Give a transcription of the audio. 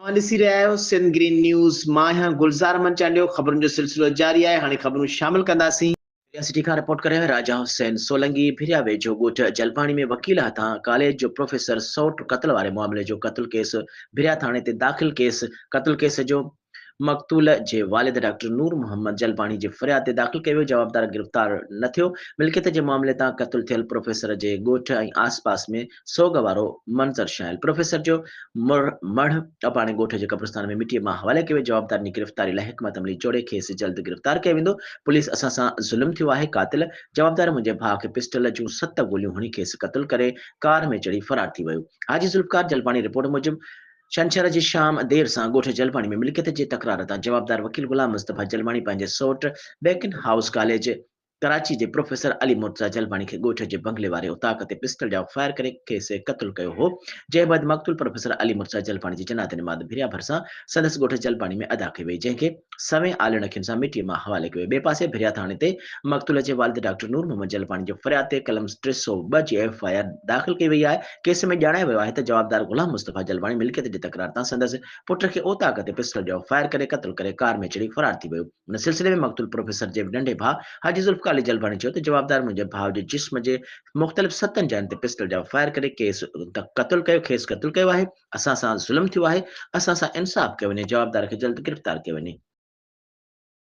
اوهان ڏسي رهيا آهيو سنڌ گرين نيوز مان آهيان گلزار احمد چانڊيو خبرن جو سلسلو جاري آهي هاڻي خبرون شامل ڪنداسين. ڀريا سٽي کان رپورٽ ڪري آهيان راجا حسين سولنگي ڀريا ويجهو ڳوٺ جلباڻي ۾ وڪيل هٿان ڪاليج جو پروفيسر سئوٽ قتل واري معاملي جو قتل ڪيس ڀريا ٿاڻي تي داخل ڪيس قتل ڪيس جو مقتول جي والد ڊاڪٽر نور محمد جلباڻي جي فرياد تي داخل ڪيو ويو، جوابدار گرفتار نه ٿيو، ملڪيت جي معاملي تان قتل ٿيل پروفيسر جي ڳوٺ ۽ آس پاس ۾ سوڳ وارو منظر ڇانيل، پروفيسر جو مڙهه اپاڻي ڳوٺ جي قبرستان ۾ مٽيء مان حوالي ڪيو ويو، جوابدارن جي گرفتاري لاء حڪمت عملي جوڙي کيس جلد گرفتار ڪيو ويندو، پوليس اسان سان ظلم ٿيو آهي، قاتل جوابدار منهنجي ڀاء کي پسٽل جون ست گوليون هڻي کيس قتل ڪري ڪار ۾ چڙهي فرار ٿي ويو، حاجي ذوالفقار جلباڻي رپورٽ موجب ڇنڇر جي شام دير سان ڳوٺ جلباڻي ۾ ملڪيت جي تڪرار تان جوابدار وڪيل غلام مصطفيٰ جلباڻي پنهنجي سئوٽ بيڪن هائوس ڪاليج ڪراچي جي پروفيسر علي مرتضيٰ جلباڻي کي ڳوٺ جي بنگلي واري اوطاق تي پسٽل جاء فائر ڪري کيس قتل ڪيو هو جنهن بعد مقتول پروفيسر علي مرتضيٰ جلباڻي جي جنازه نماز ڀريا ڀرسان سندس ڳوٺ جلباڻي ۾ ادا ڪئي وئي جنهن کي سوين آلين اکين سان مٽي مان حوالي ڪيو ويو ٻئي پاسي ڀريا ٿاڻي تي مقتول جي والد ڊاڪٽر نور محمد جلباڻي جي فرياد تي قلم ٽي سؤ ٻه جي ايف آء آر داخل ڪئي وئي آهي ڪيس ۾ ڄاڻايو ويو آهي ته جوابدار غلام مصطفيٰ جلواڻي ملڪيت جي تڪرار تان سندس پٽ کي اوطاق تي پسٽل جو فائر ڪري قتل ڪري ڪار ۾ چڙهي فرار ٿي ويو. ان سلسلي ۾ مقتول پروفيسر جي ننڍي ڀاء حاجي ذوالفقار علي جلواڻي چيو ته جوابدار منهنجي ڀاء جي جسم جي مختلف ستن جاين تي پسٽل جا فائر ڪري ڪيس قتل ڪيو کيس قتل ڪيو آهي اسان سان ظلم ٿيو آهي اسان سان انصاف ڪيو وڃي جوابدار کي جلد گرفتار ڪيو وڃي.